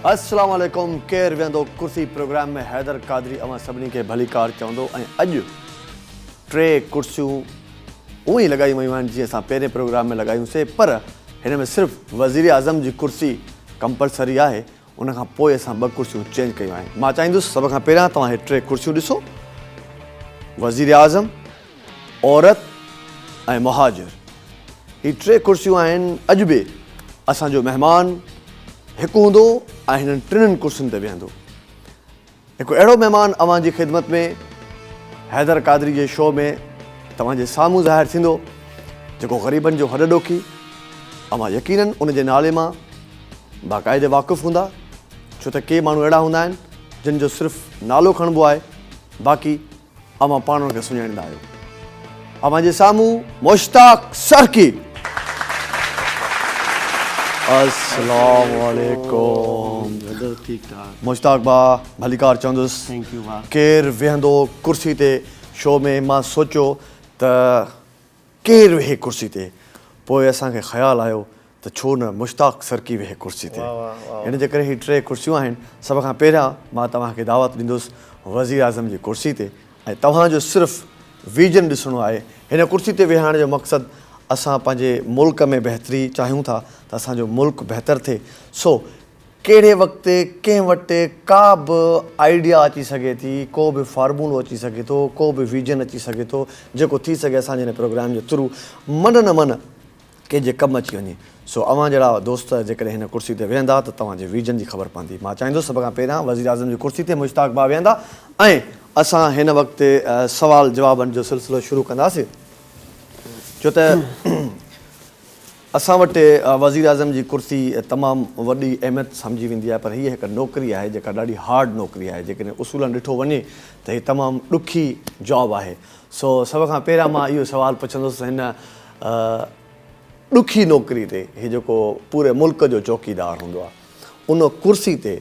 السلام عليڪم ڪير ويهندو ڪرسي پروگرام ۾ حيدر قادري اوهان سڀني کي ڀليڪار چوندو ۽ اڄ ٽي ڪرسيون اوهين لڳايون ويون آهن جيئن اسان پهرين پروگرام ۾ لڳايون سي پر هن ۾ صرف وزير اعظم جي ڪرسي ڪمپلسري آهي ان کان پوء اسان ٻه ڪرسيون چينج ڪيون آهن مان چاهيندس سڀ کان پهريان توهان هي ٽي ڪرسيون ڏسو وزير اعظم عورت ۽ مهاجر هي ٽي ڪرسيون آهن اڄ به اسان جو مهمان هڪ هوندو ۽ هنن ٽنن ڪرسين تي ويهندو هڪ اهڙو مهمان اوهان جي خدمت ۾ حيدر قادري جي شو ۾ توهان جي سامهون ظاهر ٿيندو جيڪو غريبن جو هڏ ڏوکي اوهان يقينن ان جي نالي مان باقاعدي واقف هوندا ڇو ته ڪي ماڻهو اهڙا هوندا آهن جن جو صرف نالو کڻبو آهي باقي اوهان پاڻ کي سڃاڻيندا آهيو اوهان جي سامهون مشتاق سرڪي السلام عليڪم مشتاق با ڀليڪار چوندس ڪير ويهندو ڪرسي تي شو ۾ مان سوچيو ته ڪير ويهي ڪرسي تي؟ پوء اسان کي خيال آيو ته ڇو نه مشتاق سرڪي ويهي ڪرسي تي. ان جي ڪري هي ٽي ڪرسيون آهن. سڀ کان پهريان مان توهان کي دعوت ڏيندس وزيراعظم جي ڪرسي تي ۽ توهان جو صرف ويزن ڏسڻو آهي. هن ڪرسي تي ويهارڻ جو مقصد اسان پنهنجي ملڪ ۾ بهتري چاهيون ٿا ته اسان جو ملڪ بهتر ٿئي سو ڪهڙي وقت ڪنهن وٽ ڪا به آئيڊيا اچي سگهي ٿي، ڪو به فارمولو اچي سگهي ٿو، ڪو به ويزن اچي سگهي ٿو، جيڪو ٿي سگهي اسان جي هن پروگرام جي ٿرو منه نه منه ڪنهنجي ڪم اچي وڃي. سو اوهان جهڙا دوست جيڪڏهن هن ڪرسي تي ويهندا ته توهان جي ويزن جي خبر پوندي. مان چاهيندس سڀ کان پهريان وزيراعظم جي ڪرسي تي مشتاق ڀاء ويهندا ۽ اسان هن وقت سوال جوابن جو سلسلو شروع ڪنداسين. ڇو ته اسان وٽ وزيراعظم جي ڪرسي تمام وڏي اهميت سمجهي ويندي آهي پر هيء هڪ نوڪري آهي جيڪا ڏاڍي هارڊ نوڪري آهي جيڪڏهن اصولن ڏٺو وڃي ته هي تمام ڏکي جاب آهي سو سڀ کان پهريان مان اهو سوال پڇندس ته هن ڏکي نوڪري تي هي جيڪو پوري ملڪ جو چوڪيدار هوندو آهي ان ڪرسي تي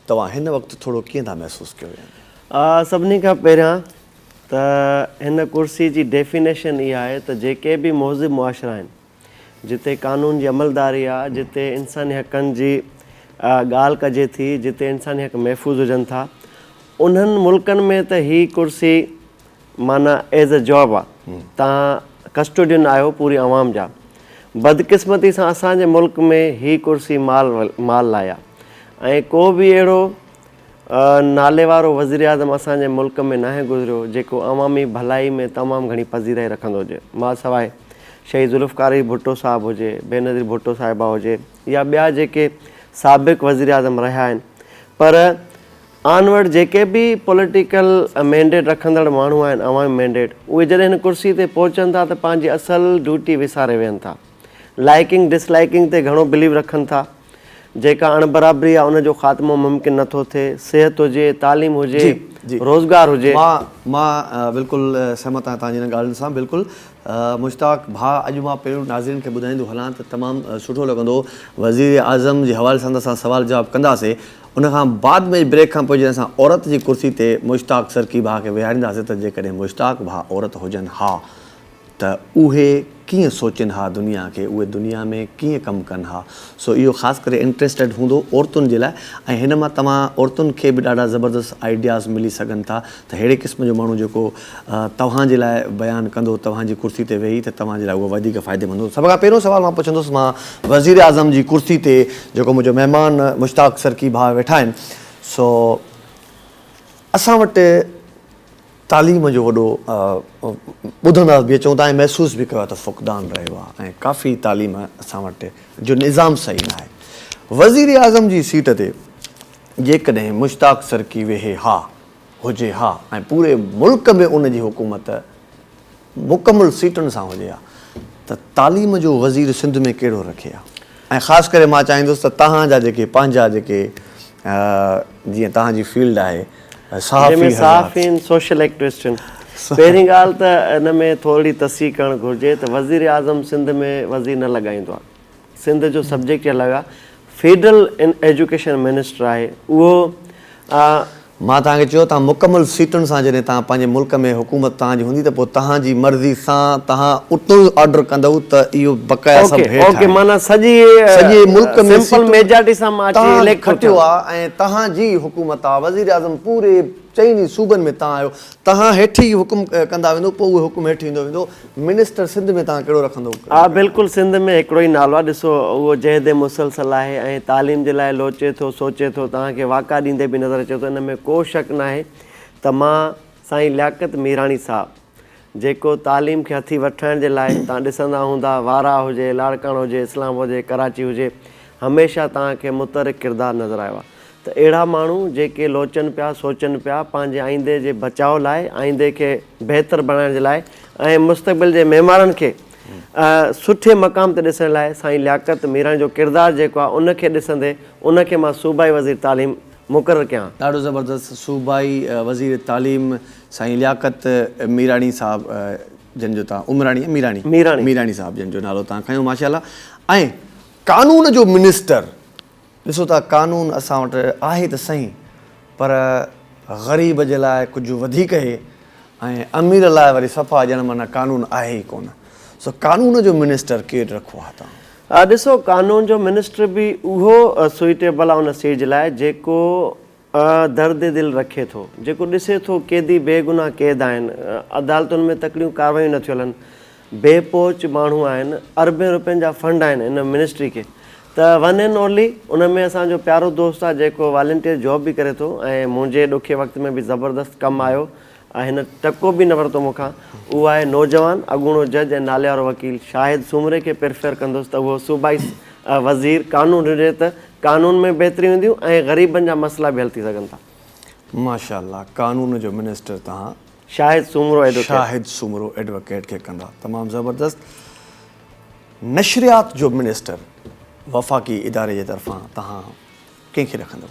توهان هن وقت ٿورو ڪيئن ٿا محسوس ڪيو يعني سڀني کان پهريان ته هن ڪرسي جي ڊيفينيشن اها آهي ته جيڪي به مهذب معاشرا آهن جتي قانون جي عملداري آ، جتي انساني حقن جي ڳالهه ڪجي ٿي، جتي انساني حق محفوظ هجن ٿا، انهن ملڪن ۾ ته هي ڪرسي معنيٰ ايز اي جاب آ، توهان ڪسٽوڊين آهيو پوري عوام جا. بدقسمتي سان اسان جي ملڪ ۾ هي ڪرسي مال مال لاء آ ۽ ڪو به اهڙو. ناليوارو وزيراعظم اسان جي ملڪ ۾ ناهي گذريو جيڪو عوامي ڀلائي ۾ تمام گهڻي پذيرائي رکندو هجي ماسواء شهيد ذوالفقار علي ڀٽو صاحب هجي بينظير ڀٽو صاحبه هجي يا ٻيا جيڪي سابق وزيراعظم رهيا آهن پر آن ورڊ جيڪي به پوليٽيڪل مينڊيٽ رکندڙ ماڻهو آهن عوامي مينڊيٽ اهي جڏهن هن ڪرسي تي پهچن ٿا ته پنهنجي اصل ڊيوٽي وساري ويهن ٿا لائيڪنگ ڊس لائيڪنگ تي گهڻو بليو رکن ٿا جيڪا اڻ برابري آ ان جو خاتمو ممڪن نه ٿو ٿئي صحت هجي تعليم هجي روزگار هجي. مان بلڪل سهمت آهيان تنهنجي انهن ڳالهين سان بلڪل مشتاق ڀاء اڄ مان پهريون ناظرين کي ٻڌائيندو هلان ته تمام سٺو لڳندو وزير اعظم جي حوالي سان ته اسان سوال جواب ڪنداسي ان کان بعد ۾ بريڪ کان پوء جڏهن اسان عورت جي ڪرسي تي مشتاق سرڪي ڀاء کي ويهارينداسي ته جيڪڏهن مشتاق ڀاء عورت هجن ها ته اهي ڪيئن سوچين ها دنيا کي اهي دنيا ۾ ڪيئن ڪم ڪن ها سو اهو خاص ڪري انٽريسٽيڊ هوندو عورتن جي لاء ۽ هن مان توهان عورتن کي به ڏاڍا زبردست آئيڊياز ملي سگهن ٿا ته ههڙي قسم جو ماڻهو جيڪو توهان جي لاء بيان ڪندو توهان جي ڪرسي تي ويهي ته توهان جي لاء اهو وڌيڪ فائدي مند هوندو سڀ کان پهريون سوال مان پڇندس مان وزير اعظم جي ڪرسي تي جيڪو منهنجو مهمان مشتاق سرڪي ڀاء ويٺا آهن سو اسان وٽ تعليم جو وڏو ٻڌندا به اچون ٿا ۽ محسوس به ڪيو آهي ته فقدان رهيو آهي ۽ ڪافي تعليم اسان وٽ جو نظام صحيح نه آهي وزيراعظم جي سيٽ تي جيڪڏهن مشتاق سرڪي ويهي ها هجي ها ۽ پوري ملڪ ۾ ان جي حڪومت مڪمل سيٽن سان هجي ها ته تعليم جو وزير سنڌ ۾ ڪهڙو رکي ها ۽ خاص ڪري مان چاهيندس ته توهان جا جيڪي پنهنجا جيڪي جيئن توهان جي فيلڊ آهي صحافي صحافين سوشل ايڪٽوسٽن پهرين ڳالهه ته ان ۾ ٿورڙي تصحيح ڪرڻ گهرجي ته وزير اعظم سنڌ ۾ وزير نه لڳائيندو آهي. سنڌ جو سبجيڪٽ يا لڳا فيڊرل ايجوڪيشن منسٽر آهي اهو. مان توهان کي چيو توهان مڪمل سيٽن سان جڏهن توهان پنهنجي ملڪ ۾ حڪومت توهان جي هوندي ته پوء توهان جي مرضي سان توهان اتو ئي آرڊر ڪندؤ ته اهو بقايا سڀ هيٺ آهن. اوڪي معنيٰ سڄي سڄي ملڪ ۾ سمپل ميجارٽي سان مان اچي اليڪٽ ٿو ٿيان. توهان کٽيو آهي ۽ توهان جي حڪومت آهي وزيراعظم پوري چئني صوبن ۾ توهان آهيو. توهان هيٺ ئي حڪم ڪندا ويندو پوء اهو حڪم هيٺ ايندو ويندو منسٽر سنڌ ۾ توهان ڪهڙو رکندو. ها بلڪل سنڌ ۾ هڪڙو ئي نالو آهي ڏسو اهو جهيدي مسلسل آهي ۽ تعليم جي لاء لوچي ٿو سوچي ٿو توهان کي واڪا ڏيندي به نظر اچي ٿو ان ۾ ڪو شڪ ناهي ته مان سائين لياقت ميراڻي صاحب جيڪو تعليم کي هٿي وٺرائڻ جي لاء توهان ڏسندا هوندا وارهه هجي لاڙڪاڻو هجي اسلام آباد هجي ڪراچي هجي هميشه توهان کي متحرڪ ڪردار نظر آيو آهي ته اهڙا ماڻهو جيڪي لوچن پيا، سوچن پيا، پنهنجي آئيندي جي بچاء لاء، آئيندي کي بهتر بڻائڻ جي لاء ۽ مستقبل جي معمارن کي سٺي مقام تي ڏسڻ لاء سائين لياقت ميراڻي جو ڪردار جيڪو آهي ان کي ڏسندي ان کي مان صوبائي وزير تعليم مقرر ڪيان ها. ڏاڍو زبردست صوبائي وزير تعليم سائين لياقت ميراڻي صاحب جن جو تان عمراڻي يا ميراڻي ميراڻي صاحب جن جو نالو تان کنيو ماشاءالله ۽ قانون جو منسٽر. ڏسو ته قانون اسان وٽ آهي ته سهين پر غريب جي لاء ڪجهه وڌيڪ هي ۽ امير لاء وري صفا ڄڻ معنيٰ قانون آهي ئي ڪونه. سو قانون جو منسٽر ڪير رکو ها توهان؟ ڏسو قانون جو منسٽر به اهو سوئيٽيبل آن اسٽيج لاء جيڪو آء درد دل رکي ٿو جيڪو ڏسي ٿو قيدي بي گناھ قيد آهن عدالتن ۾ تڪڙيون ڪاروايون نه ٿيون هلن بي پهچ ماڻهو آهن اربين روپين جا فنڊ آهن ان منسٽري کي ته ون اينڊ اونلي ان ۾ اسان جو پيارو دوست آهي جيڪو والينٽيئر جاب به ڪري ٿو ۽ منهنجي ڏکي وقت ۾ به زبردست ڪم آيو آء هن ٽڪو به نه ورتو مون کان. اهو آء نوجوان اڳوڻو جج ۽ ناليوارو وڪيل شاهد سومري کي پرفيئر ڪندس ته اهو صوبائي وزير قانون هجي ته قانون ۾ بهتريون اينديون ۽ غريبن جا مسئلا به حل ٿي سگهن ٿا. ماشاءالله قانون جو منسٽر توهان شاهد سومرو ايڊوڪيٽ. شاهد سومرو ايڊوڪيٽ کي ڪندا. تمام زبردست. نشريات جو منسٽر وفاقي اداري جي طرفان توهان ڪنهن کي رکندو؟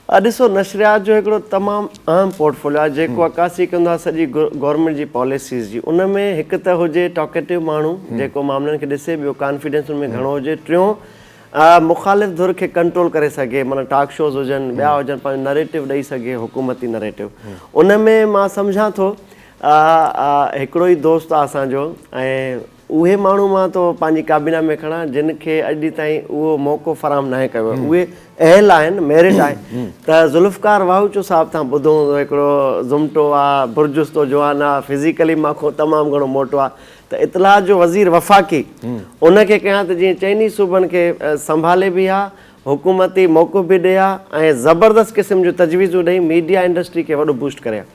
اھا ڏسو نشريات جو ھڪڙو تمام اھم پورٽفوليو آھي جيڪو عڪاسي ڪندو آھي سڄي گورنمينٽ جي پاليسيز جي ان ۾ ھڪ ته ھجي ٽاڪيٽو ماڻھو جيڪو معاملن کي ڏسي ٻيو ڪانفيڊنس ان ۾ گھڻو ھجي ٽيون مخالف ڌر کي ڪنٽرول ڪري سگھي معنيٰ ٽاڪ شوز ھجن ٻيا ھجن پنھنجو نريٽو ڏئي سگھي حڪومتي نريٽو ان ۾ مان سمجھان ٿو ھڪڙو ئي دوست آھي اسان جو ۽ اهي ماڻهو مان تو پنهنجي ڪابينا ۾ کڻان جن کي اڄ ڏينهن تائين اهو موقعو فراهم ناهي ڪيو ويو اهي اهل آهن ميرٽ آهي ته ذوالفقار واهوچو صاحب تان ٻڌو هوندو هڪڙو زمٽو آ برجستو جوان آ فزيڪلي مان کون تمام گهڻو موٽو آ ته اطلاعات جو وزير وفاقي ان کي ڪيان ته جيئن چئني ئي صوبن کي سنڀالي به ها حڪومتي موقف به ڏئي ها ۽ زبردست قسم جون تجويزون ڏئي ميڊيا انڊسٽري کي وڏو بوسٽ ڪري ها.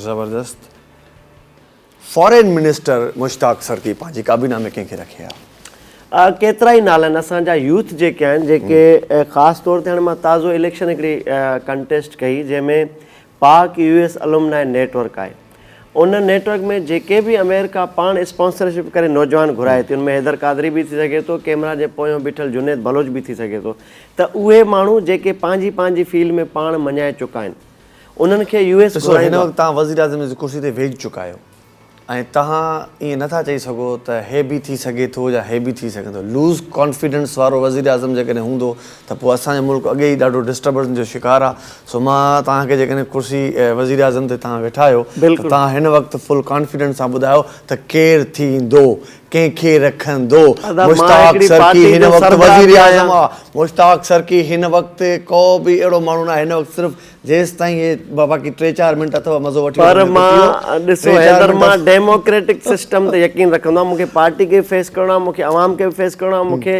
زبردست. فارين منسٽر مشتاق سرڪي پنهنجي ڪابينا ۾ ڪنهن کي رکي ها؟ ڪيترا ئي نالا آهن اسان جا يوٿ جيڪي آهن جيڪي خاص طور تي هاڻي مان تازو اليڪشن هڪڙي ڪنٽيسٽ ڪئي جنهن ۾ Pak U S alumni network آهي ان نيٽ ورڪ ۾ جيڪي به اميرڪا پاڻ اسپانسرشپ ڪري نوجوان گهرائي ٿي ان ۾ حيدر قادري به ٿي سگهي ٿو ڪيمرا جي پويان بيٺل جنيد بلوچ به ٿي سگهي ٿو ته اهي ماڻهو جيڪي پنهنجي پنهنجي فيلڊ ۾ پاڻ مڃائي چڪا آهن انهن کي يو ايس ڏسو هن وقت توهان وزيراعظم جي ڪرسي تي ويهجي چڪا آهيو ۽ توهان ائين نه ٿا چئي سگهو ته هي به ٿي سگهي ٿو يا هي به ٿي سگهي ٿو لوز ڪانفيڊنس وارو وزيراعظم جيڪڏهن هوندو ته پوء اسان جو ملڪ اڳي ئي ڏاڍو ڊسٽربنس جو شڪار آهي سو مان توهان کي جيڪڏهن ڪرسي وزيراعظم تي توهان ويٺا آهيو ته توهان هن وقت فل ڪانفيڊنس سان ٻڌايو ته ڪير ٿيندو ڪنهن کي رکندو؟ مشتاق سرڪي هن وقت وزيراعظم آ. مشتاق سرڪي هن وقت ڪو به اهڙو ماڻهو ناهي هن وقت صرف جيستائين هي باقي ٽي چار منٽ اٿو مزو وٺي وٺو پر مان ڏسو حيدر مان ڊيموڪريٽڪ سسٽم تي يقين رکندو آهيان مون کي پارٽي کي فيس ڪرڻو آهي مون کي عوام کي به فيس ڪرڻو آهي مون کي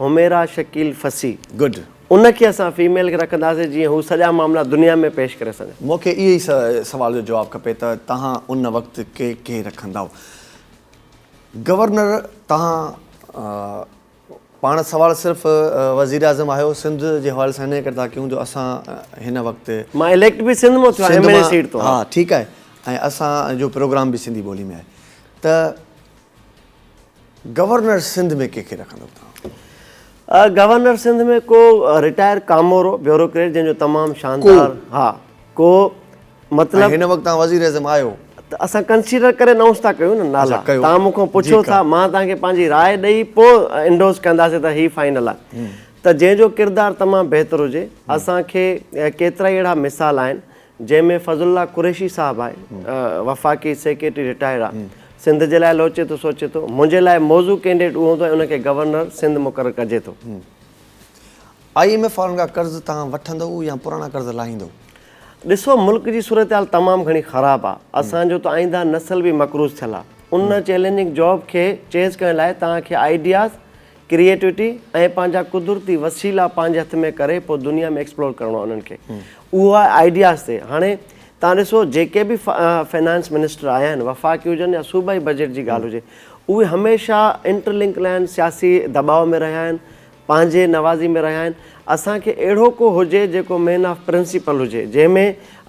حميرا شڪيل فصي گڊ ان کي اسان فيميل کي رکنداسين جيئن هو سڄا معاملا دنيا ۾ پيش ڪري سگهن. مون کي اهي ئي سوال جو جواب کپي ته توهان ان وقت ڪي ڪي رکندائو. گورنر توهان پاڻ سوال صرف وزيراعظم آهيو سنڌ جي حوالي سان انهي ڪري ٿا ڪيون جو اسان هن وقت مان اليڪٽ به سنڌ مان ٿيو آهيان ايم اين اي سيٽ تون ها ٺيڪ آهي ۽ اسان جو پروگرام به سنڌي ٻولي ۾ آهي ته. گورنر سنڌ ۾ ڪنهن کي رکندو توهان؟ گورنر سنڌ ۾ ڪو رٽائر ڪامورو، بيوروڪريٽ جنهن جو تمام شاندار ها ڪو مطلب. ۽ هن وقت توهان وزير اعظم آهيو. ته اسان ڪنسيڊر ڪري انائونس ٿا ڪيون نه نالا توهان مون کان پڇو ٿا مان توهان کي پنهنجي راء ڏئي پو انڊوس ڪنداسين ته هي فائنل آ ته جنهن جو ڪردار تمام بهتر هجي اسان کي ڪيترائي اهڙا مثال آهن جنهن ۾ فضل الله قريشي صاحب آهي وفاقي سيڪريٽري رٽائرڊ آهي سنڌ جي لاء لوچي ٿو سوچي ٿو منهنجي لاء موضوع ڪينڊيڊيٽ اهو هوندو ۽ ان کي گورنر سنڌ مقرر ڪجي ٿو. آء ايم ايف وارن کان قرض تهان وٺندؤ يا پراڻا قرض لاهيندؤ؟ ڏسو ملڪ جي صورتحال تمام گهڻي خراب آ اسان جو ته آئينده نسل به مقروض ٿيل آ ان چيلنجنگ جاب کي چيز ڪرڻ لاء توهان کي آئيڊياز ڪريئيٽوٽي ۽ پنهنجا قدرتي وسيلا پنهنجي هٿ ۾ ڪري پوء دنيا ۾ ايڪسپلور ڪرڻو آهي انهن کي اهو آهي آئيڊياز تي هاڻي تان ڏسو جيڪي به فنانس منسٽر آيا آهن وفاقي هجن يا صوبائي بجيٽ جي ڳالهه هجي اهي هميشه انٽرلنڪ لائن سياسي دٻاء ۾ رهيا آهن پنهنجي نوازي ۾ رهيا آهن اسان کي اهڙو ڪو هجي جيڪو مين آف پرنسيپل هجي جنهن ۾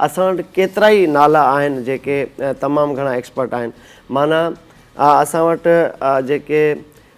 اسان وٽ ڪيترائي نالا آهن جيڪي تمام گهڻا ايڪسپرٽ آهن معنيٰ اسان وٽ جيڪي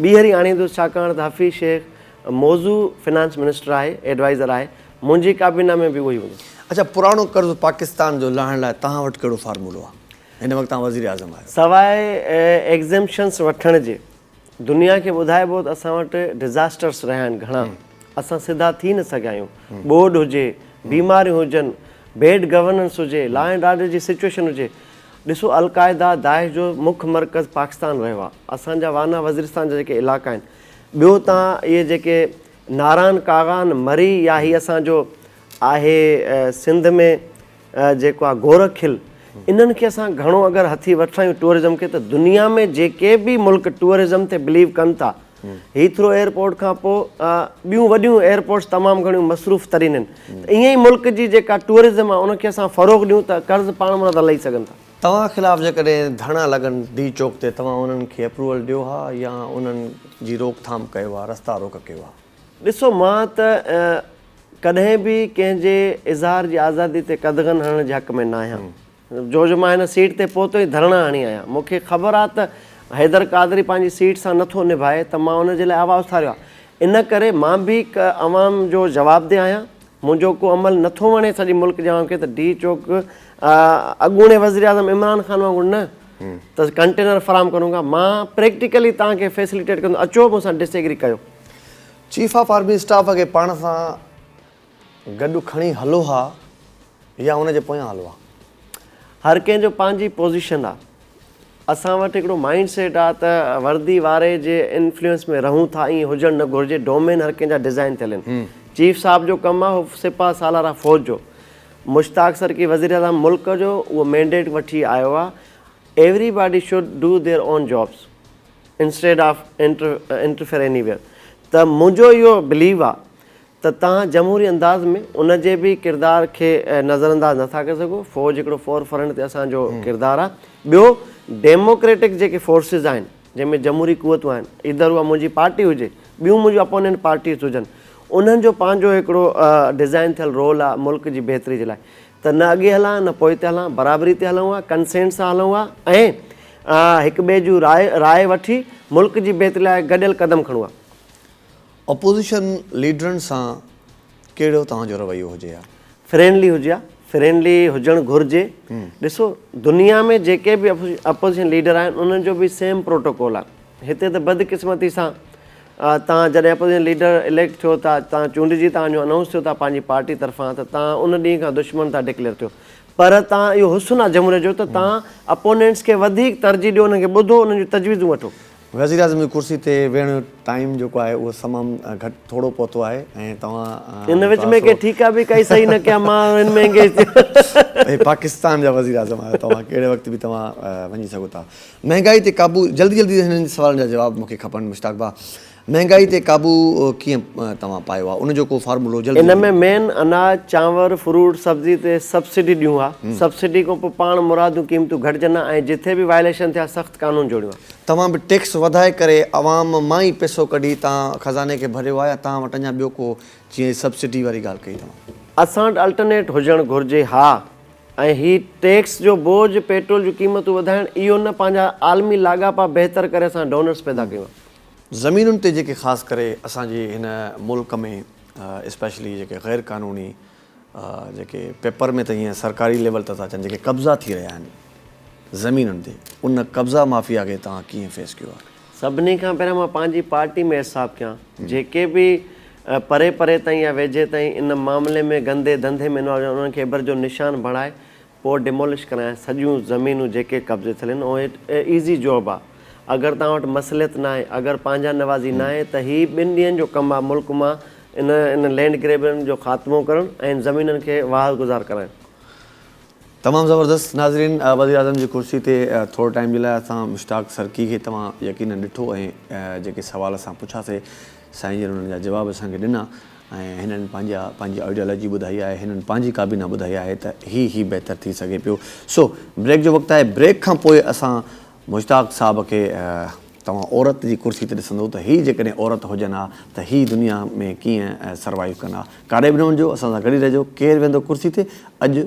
ٻيهر ئي آڻيندس ڇاڪاڻ ته حفيظ شيخ موضوع فنانس منسٽر آهي ايڊوائيزر آهي منهنجي ڪابينا ۾ به اهو ئي هوندو. اڇا پراڻو قرض پاڪستان جو لاهڻ لاء توهان وٽ ڪهڙو فارمولو آ؟ هن وقت توهان وزير اعظم آهيو. سواء ايگزيمپشنس وٺڻ جي دنيا کي ٻڌائبو ته اسان وٽ ڊزاسٽرس رهيا آهن گهڻا اسان سڌا ٿي نه سگهيا آهيون ٻوڏ هجي بيماريون هجن بيڊ گورننس هجي لا اينڊ آرڊر جي سچوئيشن هجي ڏسو القاعده داعش جو مک مرڪز پاڪستان رهيو آهي اسان جا وانا وزيرستان جا جيڪي علاقا آهن ٻيو تان اهي جيڪي ناران ڪاغان مري يا هي اسان جو آهي سنڌ ۾ جيڪو آهي گورک کل انهن کي اسان گهڻو اگر هٿي وٺرايون ٽوئرزم کي ته دنيا ۾ جيڪي به ملڪ ٽوئرزم تي بليو ڪن ٿا هيٿرو ايئرپورٽ کان پوء ٻيون وڏيون ايئرپورٽس تمام گهڻيون مصروف ترين آهن ته ائين ئي ملڪ جي جيڪا ٽوئرزم آهي ان کي اسان فروغ ڏيون ته قرض پاڻ مٿان ٿا لهي سگهن ٿا. توهان خلاف جيڪڏهن ڌرڻا لڳن ڊي چوڪ تي توهان انهن کي اپروول ڏيو ها يا انهن جي روڪ ٿام ڪيو ها رستا روڪ ڪيو ها؟ ڏسو مان ته ڪڏهن به ڪنهن جي اظهار جي آزادي تي قدغن هڻڻ جي حق ۾ ناهيان جو جو مان هن سيٽ تي پهتو ئي ڌرڻا هڻي آيان. مون کي خبر آ ته حيدر قادري پنهنجي سيٽ سان نٿو نڀائي ته مان ان جي لاء آواز اٿاريو آ. ان ڪري مان به هڪ عوام جو جوابده آهيان. منهنجو ڪو عمل نٿو وڻي سڄي ملڪ جي عوام کي ته ڊي چوڪ اڳوڻي وزيراعظم عمران خان وانگر نه ته ڪنٽينر فراهم ڪرون گا. مان پريڪٽيڪلي توهان کي فيسليٽيٽ ڪندو اچو مون سان ڊس ايگري ڪيو. چيف آف آرمي اسٽاف کي پاڻ سان. گڏ کڻي هلو ها يا ان جي پويان هلو ها. هر ڪنهن جو پنهنجي پوزيشن آ. اسان وٽ هڪڙو مائنڊ سيٽ آ ته وردي واري جي انفلوئنس ۾ رهون ٿا ائين هجڻ نه گهرجي ڊومين هر ڪنهن جا ڊزائين ٿيل ان چيف صاحب جو ڪم آ هو سپهه سالار آ فوج جو مشتاق سرڪي وزيراعظم ملڪ جو اهو مينڊيٽ وٺي آيو آ everybody should do their own jobs instead of interfere anywhere ته منهنجو اهو بليو آ ته توهان جمهوري انداز ۾ ان جي به ڪردار کي نظرانداز نه ٿا ڪري سگهو، فوج هڪڙو فور فرنٽ تي اسان جو ڪردار آهي، ٻيو ڊيموڪريٽڪ جيڪي فورسز آهن جنهن ۾ جمهوري قوتون آهن ايڌر اها منهنجي پارٽي هجي ٻيون منهنجون اپونينٽ پارٽيز هجن انهن جو پنهنجو هڪڙو ڊزائن ٿيل رول آهي ملڪ جي بهتري جي لاء ته نه اڳي هلان ها نه پوئتي هلان برابري تي هلون ها ڪنسينٽ سان هلون ها ۽ هڪ ٻئي جون راء راء وٺي ملڪ جي بهتري لاء گڏيل قدم کڻون ها. اپوزيشن ليڊرن سان ڪهڙو توهان جو رويو هجي ها؟ فرينڊلي هجي ها، فرينڊلي هجڻ گهرجي، ڏسو دنيا ۾ جيڪي به اپوزيشن ليڊر آهن انهن جو به سيم پروٽوڪول آهي، هتي ته بدقسمتي سان توهان جڏهن اپوزيشن ليڊر اليڪٽ ٿيو ٿا، توهان چونڊجي توهان جو انائونس ٿيو ٿا پنهنجي پارٽي طرفان ته توهان ان ڏينهن کان دشمن ٿا ڊڪليئر ٿيو، پر توهان اهو حسن آهي جمهوريت جو ته توهان اپونينٽس کي وڌيڪ ترجيح ڏيو انهن کي ٻڌو انهن جون تجويزون وٺو. وزيراعظم جي ڪرسي تي ويهڻ جو ٽائيم جيڪو آهي اهو سمام گهٽ ٿورو پهتو آهي ۽ توهان ان وچ ۾ ڪي ٺيڪا به ڪائي صحيح نه ڪيا مان هن ۾ انگيج ٿي ويم. پاڪستان جا وزيراعظم آهيو توهان ڪهڙي وقت به توهان وڃي سگهو ٿا مهنگائي تي قابو جلدي جلدي هنن سوالن جا جواب مونکي کپن مشتاق ڀاء مهنگائي تي قابو ڪيئن توهان پايو آهي ان جو ڪو فارمولو جلدي جلدي ان ۾ مين اناج چانور فروٽ سبزي تي سبسڊي ڏيون ها سبسڊي کان پوء پاڻ مراديون قيمتون گهٽجن ها ۽ جٿي به وائليشن ٿيا سخت قانون جوڙيون ها. توهان به ٽيڪس وڌائي ڪري عوام مان ئي پئسو ڪڍي تان خزاني کي ڀريو آ يا تان وٽ اڃا ٻيو ڪو جيئن هي سبسڊي واري ڳالهه ڪئي توهان. اسان وٽ الٽرنيٽ هجڻ گهرجي ها ۽ هي ٽيڪس جو بوجهه پيٽرول جون قيمتون وڌائڻ اهو نه پنهنجا عالمي لاڳاپا بهتر ڪري اسان ڊونرس پيدا ڪيون ها. زمينن تي جيڪي خاص ڪري اسان جي هن ملڪ ۾ اسپيشلي جيڪي غير قانوني جيڪي پيپر ۾ ته هيئن سرڪاري ليول ته ٿا اچن جيڪي قبضا ٿي رهيا آهن زمينن تي ان قبضا مافيا کي توهان ڪيئن فيس ڪيو آهي؟ سڀني کان پهريان مان پنهنجي پارٽي ۾ حساب ڪيان جيڪي به پري پري تائين يا ويجهي تائين ان معاملي ۾ گندي ڌنڌي ۾ انوالو آهن انهن کي ابر جو نشان بڻائي پوء ڊيمولش ڪرائين سڄيون زمينون جيڪي قبضي ٿيل آهن اهي ايزي جاب آ اگر توهان وٽ مصلحت ناهي اگر پنهنجا نوازي ناهي ته هي ٻن ڏينهن جو ڪم آ ملڪ مان ان ان لينڊ گريبرن جو خاتمو ڪرڻ ۽ ان زمينن کي واهه گذار ڪرائڻ. تمام زبردست ناظرين وزيراعظم جي ڪرسي تي ٿوري ٽائيم جي لاء اسان مشتاق سرڪي کي توهان يقينن ڏٺو ۽ جيڪي سوال اسان پڇياسي سائين جن انهن جا جواب اسان کي ڏنا. ۽ هنن پنهنجا پنهنجي آئيڊيالاجي ٻڌائي آهي، هنن پنهنجي ڪابينا ٻڌائي آهي ته هي هي بهتر ٿي سگهي پيو. سو بريڪ جو وقت آهي، بريڪ کان پوء اسان مشتاق صاحب کي توهان عورت جي ڪرسي تي ڏسندو ته هي جيڪڏهن عورت هجن ها ته هي دنيا ۾ ڪيئن سروائيو ڪن ها. ڪاڏي به نه وڃجو، اسان سان گڏ ئي رهجو، ڪير ويهندو ڪرسي تي اڄ؟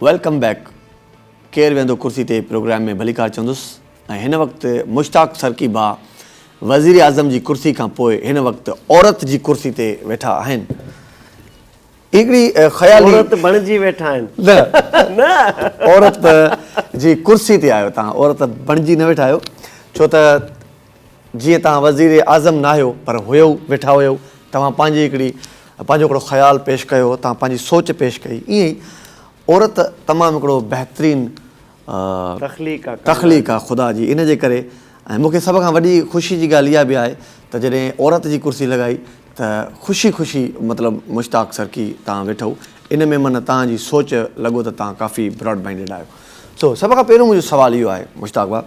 ويلڪم بيڪ ڪير ويهندو ڪرسي تي پروگرام ۾ ڀليڪار چوندس ۽ هن وقت مشتاق سرڪي ڀاء وزيراعظم جي ڪرسي کان پوء هن وقت عورت جي ڪرسي تي ويٺا آهن هڪڙي خيالي عورت بڻجي ويٺا آهن نه عورت جي ڪرسي تي آهيو تان عورت بڻجي نه ويٺا آهيو ڇو ته جيئن توهان وزير اعظم ناهيو پر هيو ويٺا هيو توهان پنهنجي هڪڙي پنهنجو هڪڙو خيال پيش ڪيو توهان پنهنجي سوچ پيش ڪئي ائين ئي عورت تمام هڪڙو بهترين تخليق آ خدا جي ان جي ڪري ۽ مون کي سڀ کان وڏي خوشي جي ڳالهه اها به آهي ته جڏهن عورت جي ڪرسي لڳائي ته خوشي خوشي مطلب مشتاق سرڪي توهان ويٺو ان ۾ من توهان جي سوچ لڳو ته توهان ڪافي براڊ مائنڊيڊ آهيو سو سڀ کان پهريون منهنجو سوال اهو آهي مشتاق ڀاء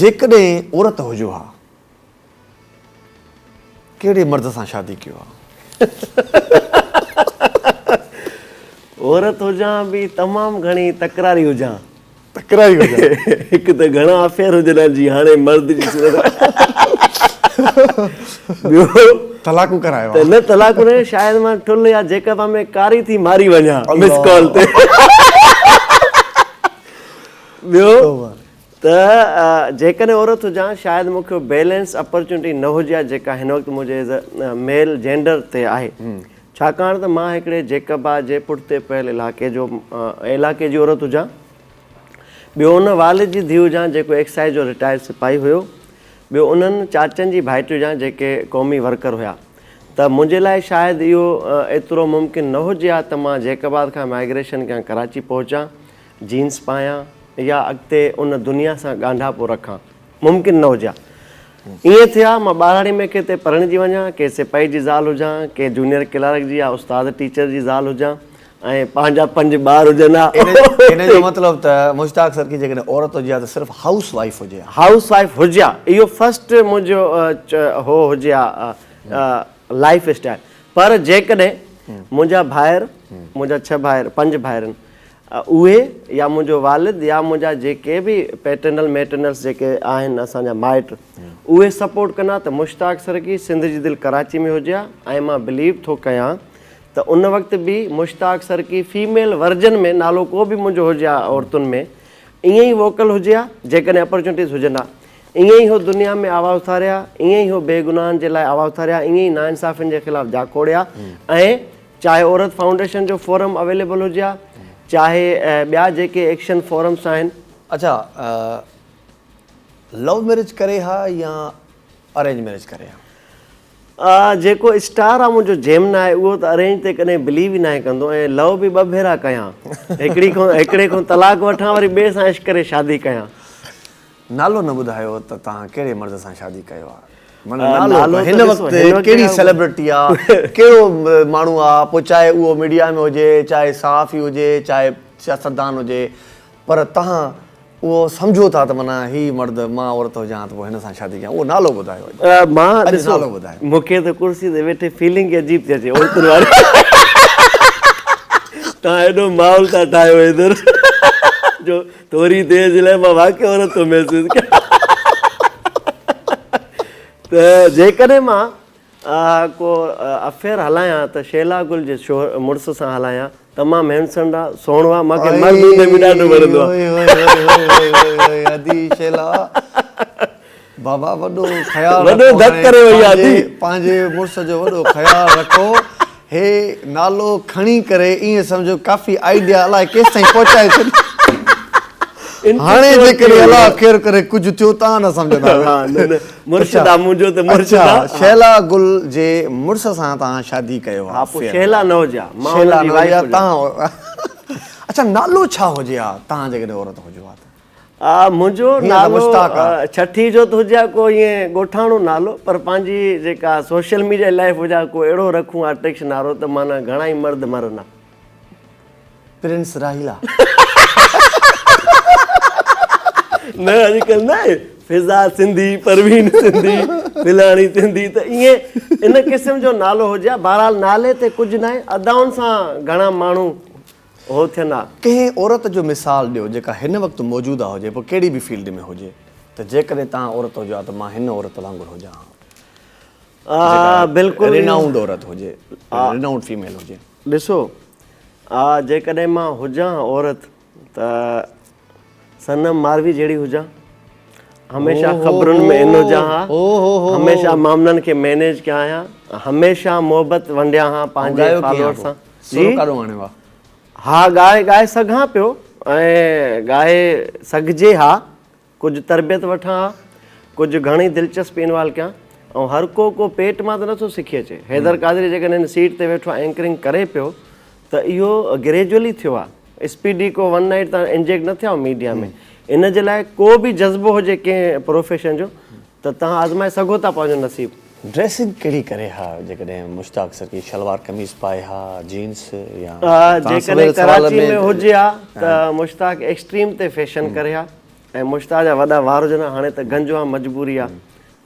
جيڪڏهن عورت هجو ها ڪهڙي مرد سان شادي ڪيو ها. عورت هجان به تمام گهڻي تڪراري هجان. تڪراري هجان. هڪ ته گهڻا افيئر هجن ها جي هاڻي مرد جي صورت ۾ ٻيو طلاقون ڪرايو ها. نه طلاقون نه شايد مان ٺل يا جيڪب ۾ ڪاري ٿي ماري وڃان مس ڪال تي. ٻيو ته جيڪڏهن عورت هجان شايد مون کي اها بيلنس اپرچونٽي نه هجي ها جيڪا هن وقت منهنجي ايز اي ميل جينڊر تي آهي ڇاڪاڻ ته مان هڪڙي جيڪبا جي پٺتي پيل علائقي جو علائقي جي عورت هجان ٻيو ان والد جي ڌيء هجان جيڪو ايڪسائيز جو رٽائرڊ سپاهي هيو ٻيو انهن چاچن جي ڀائٽي هجان جيڪي قومي ورڪر هيا ته منهنجي لاء شايد اهو ايترو ممڪن نه هجي ها ته مان جيڪبا کان مائگريشن ڪيان ڪراچي پهچان جينز پايان يا اڳتي ان دنيا سان ڳانڍاپو رکان، ممڪن نه هجي ها. ائين ٿئي ها، مان ٻهراڙي ۾ ڪنهن تي پرڻجي وڃان، ڪنهن سپاهي جي زال هجان، ڪنهن جونيئر ڪلارڪ جي يا استاد ٽيچر جي زال هجان ۽ پنهنجا پنج ٻار هجن ها. ان جو مطلب ته مشتاق سرڪي جيڪڏهن عورت هجي ها ته صرف هائوس وائيف هجي ها. هائوس وائيف هجي ها. اهو فرسٽ منهنجو هو هجي ها لائيف اسٽائيل. پر جيڪڏهن منهنجا ڀائر، منهنجا ڇهه ڀائر، پنج ڀائرن، اهي يا منهنجو والد يا منهنجا جيڪي به پيٽرنل ميٽرنلس جيڪي آهن اسان جا مائٽ اهي سپورٽ ڪندا ته مشتاق سرڪي سنڌ جي دل ڪراچي ۾ هجي ها ۽ مان بليو ٿو ڪيان ته ان وقت به مشتاق سرڪي فيميل ورجن ۾ نالو ڪو به منهنجو هجي ها عورتن ۾ ائين ئي ووڪل هجي ها جيڪڏهن اپرچونٽيز هجن ها ائين ئي هو دنيا ۾ آواز اٿاري ها ائين ئي هو بي گناهن جي لاء آواز اٿاري ها ائين ئي ناانصافين جي خلاف جاکوڙي ها ۽ چاهي عورت فائونڊيشن جو فورم اويليبل هجي ها چاهي ٻيا جيڪي ايڪشن فورمس آهن. اڇا لو ميرج ڪري ها يا ارينج ميرج ڪري ها. جيڪو اسٽار آ منهنجو جيمنا آهي اهو ته ارينج تي ڪڏهن بليو ئي ناهي ڪندو ۽ لو به ٻه ڀيرا ڪيان هڪڙي کان هڪڙي کان طلاق وٺان وري ٻئي سان عشق ڪري شادي ڪيان. نالو نه ٻڌايو ته توهان ڪهڙي مرد سان شادي ڪيو آ معنيٰ نالو هن وقت ڪهڙي سيلبرٽي آ ڪهڙو ماڻهو آ پوء چاهي اهو ميڊيا ۾ هجي چاهي صحافي هجي چاهي سياستدان هجي پر توهان اهو سمجهو ٿا ته معنيٰ هي مرد مان عورت هجان ته پوء هن سان شادي ڪيان اهو نالو ٻڌايو اڄ نالو ٻڌايو. مون کي ته ڪرسي تي ويٺي فيلنگ ئي عجيب ٿي اچي عورتن واري توهان هيڏو ماحول ٿا ٺاهيو ادھر جو ٿوري دير جي لاء مان واقعي عورت ٿو محسوس ڪيان ته جيڪڏهن مان ڪو افيئر هلايان ته شيلا گل جي مڙس سان هلايان تمام هينسنڊ آ سهڻو آ مانکي مرد هوندي به ڏاڍو وڻندو آ. بابا وڏو خيال رکو وڏو ڌڪ ڪري وئي آ جي پنهنجي مڙس جو وڏو خيال رکو هي نالو کڻي ڪري ايئن سمجهو ڪافي آئيڊيا الائي ڪيستائين پهچائي ڇڏي هاڻي جيڪڏهن الله خير ڪري ڪجهه ٿيو تان نه سمجهندا ها نه نه مرشد آ منهنجو ته مرشد آ اڇا شهلا گل جي مڙس سان توهان شادي ڪيو ها پوء شهلا نوجا مان ان جي وائيف هجان اڇا نالو ڇا هجي ها توهان جيڪڏهن عورت هجو ها ته آء منهنجو نالو ڇٺي جو ته هجي ها ڪو ائين ڳوٺاڻو نالو پر پنهنجي جيڪا سوشل ميڊيا لائيف هجي ها ڪو اهڙو رکون آرٽڪش نارو ته معنيٰ گهڻا ئي مرد مرن ها. پرنس راحيلا. نه اڄ ڪلهه نه آهي فضا سنڌي پروين سنڌي فلاڻي سنڌي ته ائين ان قسم جو نالو هجي ها بهرحال نالي تي ڪجهه نه آهي ادائن سان گهڻا ماڻهو اهو ٿين ها. ڪنهن عورت جو مثال ڏيو جيڪا هن وقت موجوده هجي پوء ڪهڙي به فيلڊ ۾ هجي ته جيڪڏهن توهان عورت هجو ها ته مان هن عورت وانگر هجان ها جيڪا رينائونڊ عورت هجي رينائونڊ فيميل هجي. ڏسو جيڪڏهن مان هجان ها عورت ته. صنم ماروي جهڙي هجان هميشه خبرن ۾ ان هجان ها هميشه معاملن کي مينيج ڪيان ها هميشه محبت ونڊيان ها پنهنجي فالوئر سان سر ڪاڏو آڻيو آ ها ڳائي ڳائي سگهان پيو ۽ ڳائي سگهجي ها ڪجهه تربيت وٺان ها ڪجهه گهڻي دلچسپي انوالو ڪيان ۽ هر ڪو ڪو پيٽ مان ته نٿو سکي اچي حيدر قادري جيڪڏهن هن سيٽ تي ويٺو آهي اينڪرنگ ڪري پيو ته اهو گريجولي ٿيو آ اسپيڊي ڪو ون نائيٽ تان انجيڪٽ نه ٿيا آهيو ميڊيا ۾ ان جي لاء ڪو به جذبو هجي ڪنهن پروفيشن جو ته تهان آزمائي سگهو ٿا پنهنجو نصيب. ڊريسنگ ڪهڙي ڪري ها جيڪڏهن مشتاق سرڪي شلوار قميص پائي ها جينس يا جيڪڏهن ڪراچي ۾ هجي ها ته مشتاق ايڪسٽريم تي فيشن ڪري ها ۽ مشتاق جا وڏا وار هجن ها هاڻي ته گنجو ها مجبوري ها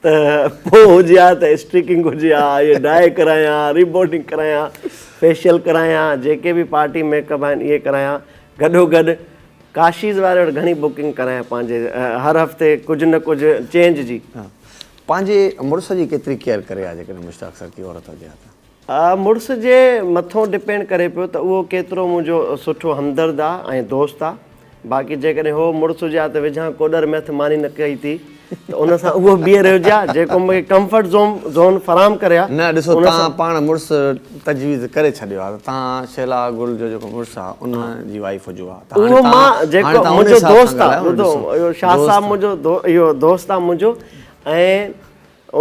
ته پوء هجي ها ته اسٽريڪنگ هجي ها، اهي ڊاء ڪرايان، ريبورڊنگ ڪرايان، فيشل ڪرايان، جيڪي به پارٽي ميڪ اپ آهن اهي ڪرايان، گڏو گڏ ڪاشيز واري وٽ گهڻي بڪنگ ڪرايان پنهنجي هر هفتي ڪجهه نه ڪجهه چينج جي. پنهنجي مڙس جي ڪيتري ڪيئر ڪري ها جيڪڏهن مشتاق سر ڪي عورت هجي ها ته. آء مڙس جي مٿون ڊپينڊ ڪري پيو ته اهو ڪيترو منهنجو سٺو همدرد آ ۽ دوست آ باقي جيڪڏهن هو مڙس هجي ها ته وجهان ڪوڏر ميٿ ماني نه ڪئي ٿي ته ان سان اهو بيهي رهيو جي ها جيڪو مون کي ڪمفرٽ زون فراهم ڪري ها نه ڏسو توهان پاڻ مڙس تجويز ڪري ڇڏيو آ ته توهان شيلا گل جو جيڪو مڙس آ ان جي وائيف هجو ها ته هاڻي توهان جيڪو منهنجو دوست آ ٻڌو شاهه صاحب منهنجو اهو دوست آ منهنجو ۽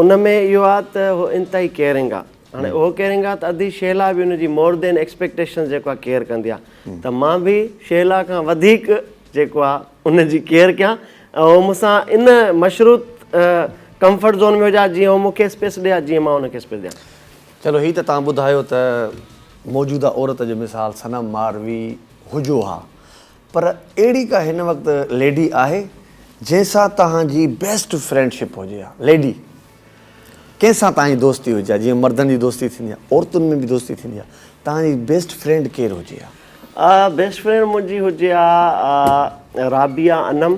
ان ۾ اهو آ ته هو انتهائي ڪيئرنگ آ هاڻي اهو ڪيئرنگ آ ته ادي شهلا به ان جي مور دين ايڪسپيڪٽيشنز جيڪو آ ڪيئر ڪندي آ ته مان به شهلا کان وڌيڪ جيڪو آ ان جي ڪيئر ڪيان ۽ هو مون سان ان مشروط ڪمفرٽ زون ۾ هجا جيئن هو مون کي اسپيس ڏئي ها جيئن مان ان کي اسپيس ڏيان. چلو هي ته توهان ٻڌايو ته موجوده عورت جو مثال صنم ماروي هجو ها پر اهڙي ڪا هن وقت ليڊي آهي جنهن سان توهان جي بيسٽ فرينڊ شپ هجي يا ليڊي ڪنهن سان توهان جي دوستي هجي يا جيئن مردن جي دوستي ٿيندي آهي عورتن ۾ به دوستي ٿيندي آهي توهان جي بيسٽ فرينڊ ڪير هجي يا. بيسٽ فرينڊ منهنجي هجي يا رابعه انعم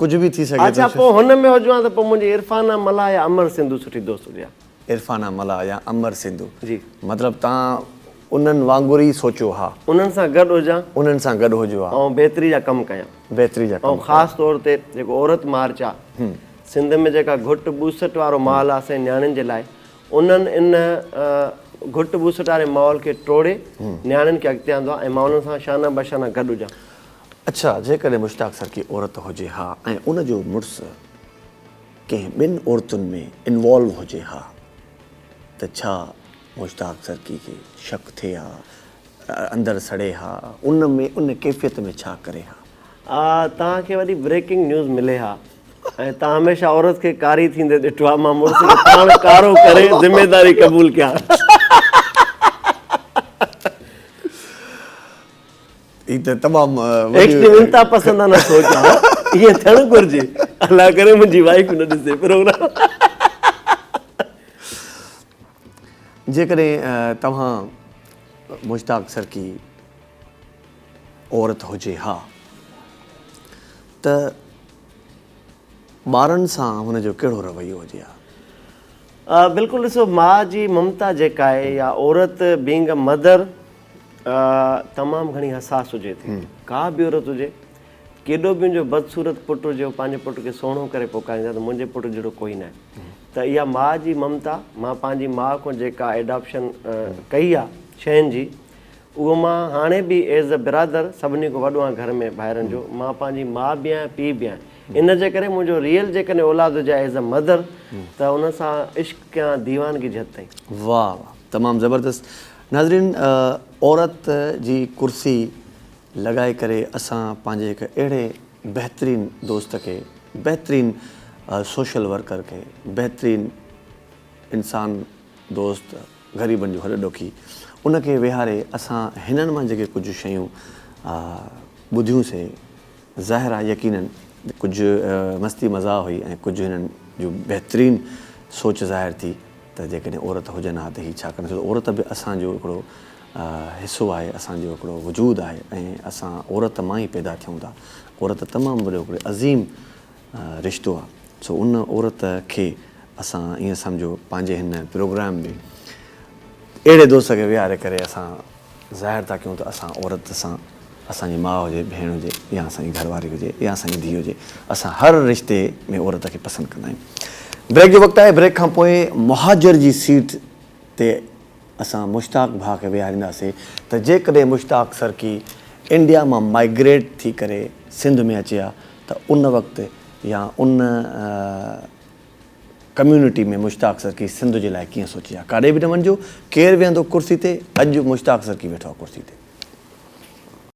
ڪجهه به ٿي سگهي ٿو. اڇا پوء هن ۾ هجان ته پوء منهنجي عرفانه ملاح يا امر سنڌو سٺي دوست هجي ها. عرفانه ملاح يا امر سنڌو. جي. مطلب تان انهن وانگر ئي سوچيو ها. انهن سان گڏ هجان. انهن سان گڏ هجو ها. ۽ بهتري جا ڪم ڪيان. بهتري جا ڪم ڪيان. ۽ خاص طور تي جيڪو عورت مارچ آ. سنڌ ۾ جيڪا گهٽ ٻوسٽ وارو ماحول آ اسان جي نياڻين جي لاء انهن ان گهٽ ٻوسٽ واري ماحول کي ٽوڙي نياڻين کي اڳتي آندو آ ۽ مان انهن سان شانه بشانه گڏ هجان. اڇا جيڪڏهن مشتاق سر ڪي عورت هجي ها ۽ ان جو مڙس ڪنهن ٻن عورتن ۾ انوالو هجي ها ته ڇا مشتاق سر ڪي کي شڪ ٿئي ها اندر سڙي ها ان ۾ ان ڪيفيت ۾ ڇا ڪري ها. آء توهان کي وڏي بريڪنگ نيوز ملي ها ۽ توهان هميشه عورت کي ڪاري ٿيندي ڏٺو آهي مان مڙس کي پاڻ ڪارو ڪري ذميداري قبول ڪيان. هي ته تمام وڏي ايڪسٽريم انتها پسندانه سوچ آهي ائين ٿيڻ گهرجي الله ڪري منهنجي وائيف نه ڏسي پروگرام. جيڪڏهن توهان مشتاق سرڪي عورت هجي ها ته ٻارن سان هن جو ڪهڙو رويو هجي ها؟ بلڪل ڏسو ماء جي ممتا جيڪا آهي يا عورت بينگ اي مدر تمام گهڻي حساس هجي ٿي. ڪا به عورت هجي، ڪيڏو به ان جو بدصورت پٽ هجي، هو پنهنجي پٽ کي سهڻو ڪري پڪاريندي ته منهنجي پٽ جهڙو ڪوئي ناهي. ته اها ماء جي ممتا، مان پنهنجي ماء کان جيڪا ايڊاپشن ڪئي آ شين جي، اهو مان هاڻي به ايز اي برادر سڀني کان وڏو آهيان گهر ۾ ڀائرن جو، مان پنهنجي ماء به آهيان پيء به آهيان. ان جي ڪري منهنجو ريئل جيڪڏهن اولاد هجي ها ايز اي مدر ته ان سان عشق ڪيان ديوانگي جهت تائين. واهه واهه تمام زبردست ناظرين عورت جي ڪرسي لڳائي ڪري اسان پنهنجي هڪ اهڙي بهترين دوست کي بهترين سوشل ورڪر کي بهترين انسان دوست غريبن جو هڏ ڏوکي ان کي ويهاري اسان هنن مان جيڪي ڪجهه شيون ٻڌيون سي ظاهر آهي يقينن ڪجهه مستي مزاح هئي ۽ ڪجهه هنن جون بهترين سوچ ظاهر ٿي ته جيڪڏهن عورت هجن ها ته هي ڇا ڪن ڇو ته عورت به اسان جو هڪڙو حصو آهي اسان جو هڪڙو وجود آهي ۽ اسان عورت مان ئي پيدا ٿيون ٿا عورت تمام وڏو هڪڙو عظيم رشتو آ سو ان عورت کي اسان ائين سمجهو پنهنجي هن پروگرام ۾ اهڙي دوست کي ويهاري ڪري اسان ظاهر ٿا ڪيون ته اسان عورت سان اسان جي ماء هجي ڀيڻ هجي يا اسان جي گهرواري هجي يا اسان جي ڌيء هجي اسان هر رشتي ۾ عورت کي پسند ڪندا آهيون. بريڪ جو وقت آهي بريڪ کان پوء مهاجر جي سيٽ تي اسان مشتاق ڀاء کي ويهارينداسين ته جيڪڏهن مشتاق سرڪي انڊيا مان مائگريٽ ٿي ڪري سنڌ ۾ اچي ها ته ان وقت يا ان ڪميونٽي ۾ مشتاق سرڪي سنڌ جي لاء ڪيئن سوچي ها. ڪاڏي به نه وڃجو، ڪير ويهندو ڪرسي تي، اڄ مشتاق سرڪي ويٺو آهي ڪرسي تي.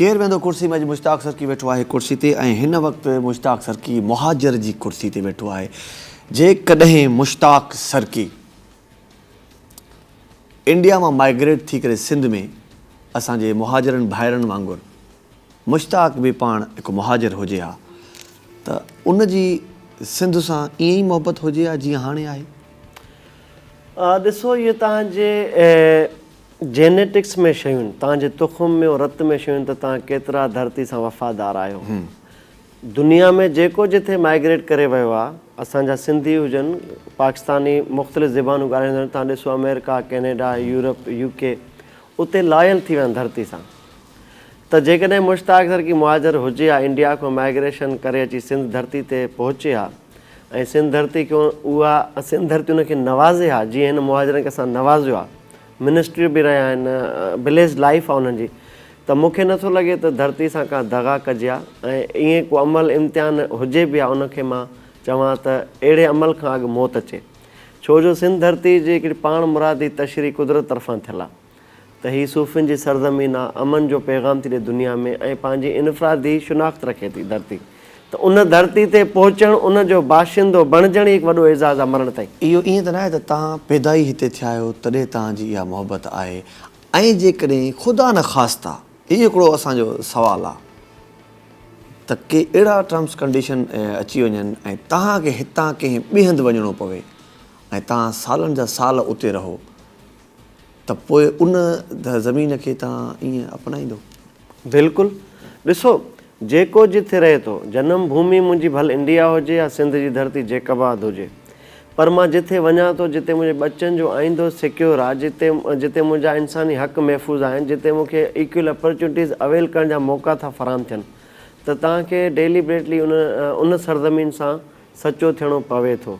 ڪير ويندو ڪرسي ۾ اڄ مشتاق سرڪي ويٺو آهي ڪرسي تي ۽ هن وقت مشتاق سرڪي مهاجر جي ڪرسي تي ويٺو آهي جيڪڏهن مشتاق سرڪي انڊيا مان مائگريٽ ٿي ڪري سنڌ ۾ اسان جي مهاجرن ڀائرن وانگر مشتاق به پاڻ هڪ مهاجر هجي ها ته ان جي سنڌ سان ائين ئي محبت هجي ها جيئن هاڻي آهي ڏسو اهي تهان جي جينيٽڪس ۾ شيون، توهان جي تخم ۾ ۽ رت ۾ شيون ته توهان ڪيترا ڌرتي سان وفادار آهيو. دنيا ۾ جيڪو جٿي مائگريٽ ڪري ويو آ، اسان جا سنڌي هجن، پاڪستاني، مختلف زبانون ڳالهائيندڙ، توهان ڏسو آمريڪا، ڪينيڊا، يورپ، يو ڪي، اتي لايل ٿي ويا آهن ڌرتي سان. ته جيڪڏهن مشتاق سر ڪي مهاجر هجي ها انڊيا کان مائگريشن ڪري اچي سنڌ ڌرتي تي پهچي ها، ۽ سنڌ ڌرتي کي اها سنڌ ڌرتي ان کي نوازي ها جيئن هن مهاجرن کي اسان نوازيو آهي منسٽريون به رهيا آهن بليسڊ لائيف آهي انهن جي ته مون کي نٿو لڳي ته ڌرتي سان ڪا دغا ڪجي ها ۽ ائين ڪو عمل امتحان هجي به ها ان کي مان چوان ته اهڙي عمل کان اڳ موت اچي ڇو جو سنڌ ڌرتي جي هڪڙي پاڻ مرادي تشريح قدرت طرفان ٿيل آهي. ته هي صوفين جي سرزمين آ، امن جو پيغام ٿي ڏئي دنيا ۾ ۽ پنهنجي انفرادي شناخت رکي ٿي ڌرتي ته ان ڌرتي تي پهچڻ ان جو باشندو بڻجڻ ئي هڪ وڏو اعزاز آ مرڻ تائين. اهو ائين ته ناهي ته توهان پيدا ئي هتي ٿيا آهيو تڏهن توهان جي اها محبت آهي ۽ جيڪڏهن خدا نخواسته هي هڪڙو اسان جو سوال آ ته ڪي اهڙا ٽرمس ڪنڊيشن اچي وڃن ۽ توهان کي هتان ڪنهن ٻئي هنڌ وڃڻو پوي ۽ توهان سالن جا سال اتي رهو ته پوء ان زمين کي توهان ائين اپنائيندو؟ بلڪل. ڏسو، جيڪو جٿي رهي ٿو، جنم ڀومي منهنجي ڀل انڊيا هجي يا سنڌ جي ڌرتي جيڪب آباد هجي، پر مان جٿي وڃان ٿو، جتي منهنجي ٻچن جو آئيندو سيڪيور آهي، جتي جتي منهنجا انساني حق محفوظ آهن، جتي مون کي ايڪول اپرچونٽيز اويل ڪرڻ جا موقعا ٿا فراهم ٿين ته توهان کي ڊيليبريٽلي ان ان سرزمين سان سچو ٿيڻو پوي ٿو.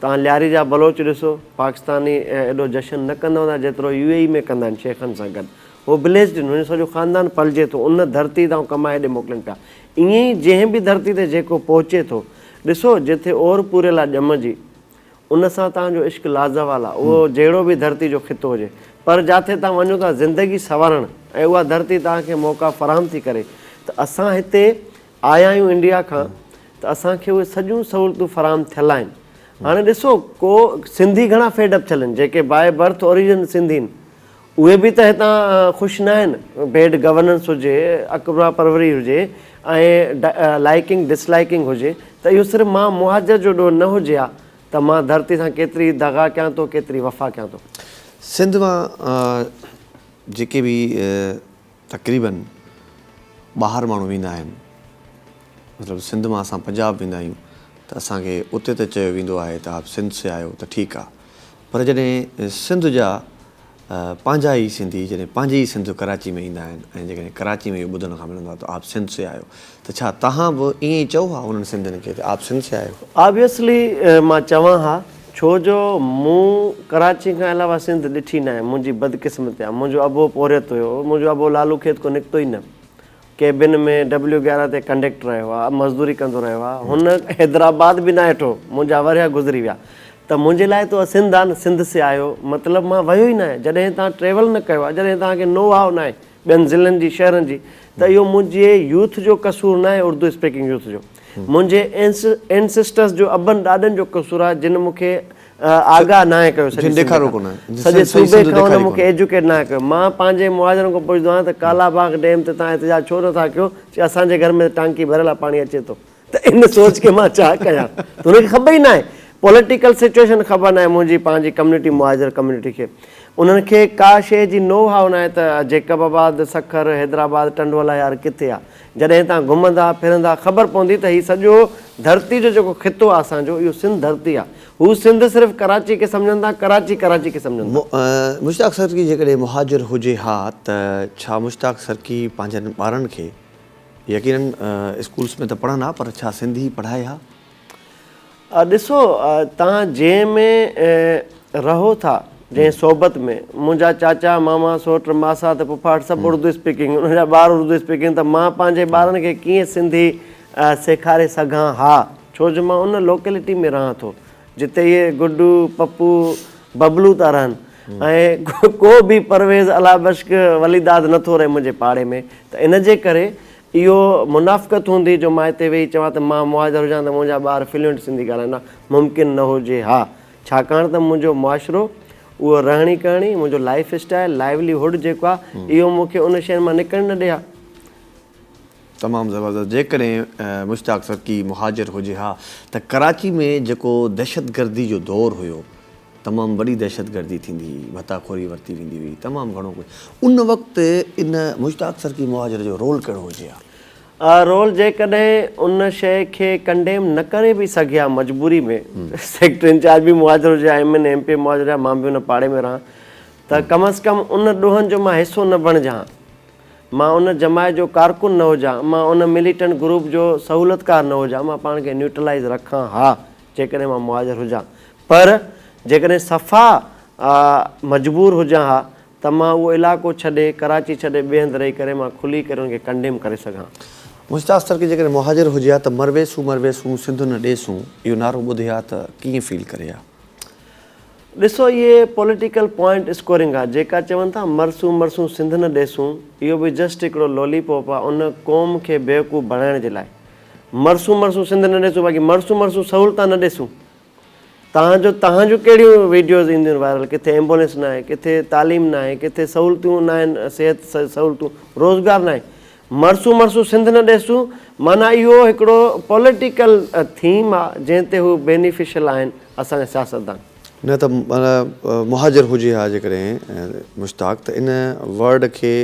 توهان لياري جا بلوچ ڏسو، پاڪستاني ايڏو جشن نه ڪندا هوندا جيترو يو اي اي ۾ ڪندا آهن شيخن سان گڏ. هو بليسڊ آهن، هن جو سڄو خاندان پلجي ٿو ان ڌرتي تان ڪمائي هيڏي موڪلين پيا. ائين ئي جنهن به ڌرتي تي جيڪو پهچي ٿو، ڏسو جتي اور پوريل آ ڄم جي، ان سان توهان جو عشق لازوال آ، اهو جهڙو به ڌرتي جو خطو هجي. پر جاٿي توهان وڃو ٿا زندگي سنوارڻ ۽ اها ڌرتي توهان کي موقعا فراهم ٿي ڪري ته اسان هتي آيا آهيون انڊيا کان ته اسان کي اهي سڄيون سهولتون فراهم ٿيل آهن هاڻي ڏسو ڪو سنڌي گهڻا فيڊ اپ ٿيل آهن جيڪي باء برٿ اوريجن سنڌي آهن اهي به ته هتان خوش ناهن بيڊ گورننس هجي اڪبرا پروري هجي ۽ لائيڪنگ ڊس لائيڪنگ هجي ته اهو صرف مان مهاجر جو ڏوهه نه هجي ها ته مان ڌرتي سان ڪيتري دغا ڪيان ٿو ڪيتري وفا ڪيان ٿو. سنڌ مان جيڪي به تقريباً ٻاهر ماڻهو ويندا آهن مطلب سنڌ مان اسان پنجاب ويندا آهيون ته اسان کي اتي ته چيو ويندو آهي ته آپ سنڌ سي آيو ته ٺيڪ آهي پر جڏهن سنڌ جا پنهنجا ئي سنڌي جڏهن پنهنجي ئي سنڌ ڪراچي ۾ ايندا آهن ۽ جيڪڏهن ڪراچي ۾ اهو ٻڌڻ کان ملندو آهي ته آپ سنڌ سي آيو ته ڇا توهان به ائين ئي چئو ها انهن سنڌين کي ته آپ سنڌ سي آئي هو؟ Obviously مان چوان ها ڇو جو مون ڪراچي کان علاوه سنڌ ڏٺي ناهي منهنجي بدقسمتي آ منهنجو ابو پورهيت هيو منهنجو ابو لالو کيت کان نڪتو ئي نه ڪيبن ۾ ڊبليو گيارهن تي ڪنڊيڪٽر رهيو آ مزدوري ڪندو رهيو آ هن حيدرآباد به ناهي ڏٺو منهنجا ورهيا گذري ويا ته منهنجي لاء ته اها سنڌ آ نه سنڌ سي آئي هو مطلب مان ويو ئي ناهي جڏهن توهان ٽريول نه ڪيو آ جڏهن توهان کي نو هاء ناهي ٻين ضلعن جي شهرن جي ته اهو منهنجي يوٿ جو قصور ناهي اردو اسپيڪنگ يوٿ جو منهنجي اينسسٽرس جو ابن ڏاڏن جو قصور آهي جن مون کي آگاهه ناهي ڪيو سڄي سنڌ کان سڄي صوبي کان انهن مون کي ايجوڪيٽ ناهي ڪيو مان پنهنجي معاشرن کان پڇندو آهيان ته ڪالا باغ ڊيم تي توهان احتجاج ڇو نٿا ڪيو چي اسان جي گهر ۾ ٽانڪي ڀريل آهي پاڻي اچي ٿو ته ان سوچ کي مان ڇا ڪيان ته ان کي خبر ئي ناهي پوليٽيڪل سچوئيشن خبر ناهي منهنجي پنهنجي ڪميونٽي مهاجر ڪميونٽي کي انهن کي ڪا شيء جي نو هاء ناهي ته جيڪب آباد سکر حيدرآباد ٽنڊوالا يار ڪٿي آ جڏهن هتان گهمندا ڦرندا خبر پوندي ته هي سڄو ڌرتي جو جيڪو خطو آ اسان جو اهو سنڌ ڌرتي آ هو سنڌ صرف ڪراچي کي سمجهندا ڪراچي ڪراچي کي سمجهندا. مشتاق سرڪي جيڪڏهن مهاجر هجي ها ته ڇا مشتاق سرڪي پنهنجن ٻارن کي يقينن اسڪولس ۾ ته پڙهن ها پر ڇا سنڌي پڙهائي ها؟ ڏسو توهان جنهن ۾ رهو ٿا جنهن صحبت ۾ منهنجا چاچا ماما سوٽ ماسات ڦوڦاٽ سڀ اردو اسپيڪنگ انهن جا ٻار اردو اسپيڪنگ ته مان پنهنجي ٻارن کي ڪيئن سنڌي سيکاري سگهان ها ڇو جو مان ان لوڪيلٽي ۾ رهان ٿو جتي اهي گڊو، پپو، ببلو ٿا رهن ۽ ڪو به پرويز، الهه بشڪ، ولي داد نه ٿو رهي منهنجي پاڙي ۾ ته ان جي ڪري اهو منافقت هوندي جو مان هتي ويهي چوان ته مان مهاجر هجان ته منهنجا ٻار فلوئنٽ سنڌي ڳالهائيندا، ممڪن نه هجي ها ڇاڪاڻ ته منهنجو معاشرو، اهو رهڻي ڪهڻي، منهنجو لائيف اسٽائيل، لائيولي هوڊ جيڪو آهي اهو مون کي ان شين مان نڪرڻ نه ڏي ها. تمام زبردست جيڪڏهن مشتاق سرڪي مهاجر هجي ها ته ڪراچي ۾ جيڪو دهشتگردي جو دور هيو تمام وڏي دهشتگردي ٿيندي هئي ڀتا خوري ورتي ويندي هئي تمام گهڻو ڪجهه ان وقت ان مشتاق سرڪي مهاجر جو رول ڪهڙو هجي ها. رول جيڪڏهن ان شيء کي ڪنڊيم نه ڪري به سگهي ها مجبوري ۾ سيڪٽر انچارج به مهاجر هجي ها M N A M P A مهاجر هجي ها مان به ان پاڙي ۾ رهان ته ڪم از ڪم ان ڏوهن جو مان حصو نه بڻجان ها. مان ان جماعت جو ڪارڪن نه هجان، مان ان مليٽنٽ گروپ جو سهولتڪار نه هجان، مان پاڻ کي نيوٽرلائيز رکان ها جيڪڏهن مان مهاجر هجان، پر جيڪڏهن صفا مجبور هجان ها ته مان اهو علائقو ڇڏي، ڪراچي ڇڏي ٻئي هنڌ رهي ڪري مان کلي ڪري ان کي ڪنڊيم ڪري سگهان. مشتاق سرڪي جيڪڏهن مهاجر هجي ها ته مرويسون مرويسون سنڌ نه ڏيسون اهو نعرو ٻڌي ها ته ڪيئن فيل ڪري ها؟ ڏسو اهي پوليٽيڪل پوائنٽ اسڪورنگ آ جيڪا چون ٿا مرسون مرسون سنڌ نه ڏيسون اهو به جسٽ هڪڙو لولي پوپ آ ان قوم کي بيوقوف بڻائڻ جي لاء مرسون مرسون سنڌ نه ڏيسون باقي مرسون مرسون سهولتان نه ڏيسون تان جو تهان جون ڪهڙيون ويڊيوز اينديون وائرل ڪٿي ايمبولينس ناهي ڪٿي تعليم ناهي ڪٿي سهولتون ناهن صحت سهولتون روزگار ناهي مرسون مرسون سنڌ نه ڏيسون معنيٰ اهو هڪڙو پوليٽيڪل ٿيم آ جنهن تي هو بينيفيشل آهن اسان جا سياستدان. نه ته مهاجر هجي ها جيڪڏهن مشتاق ته ان ورڊ کي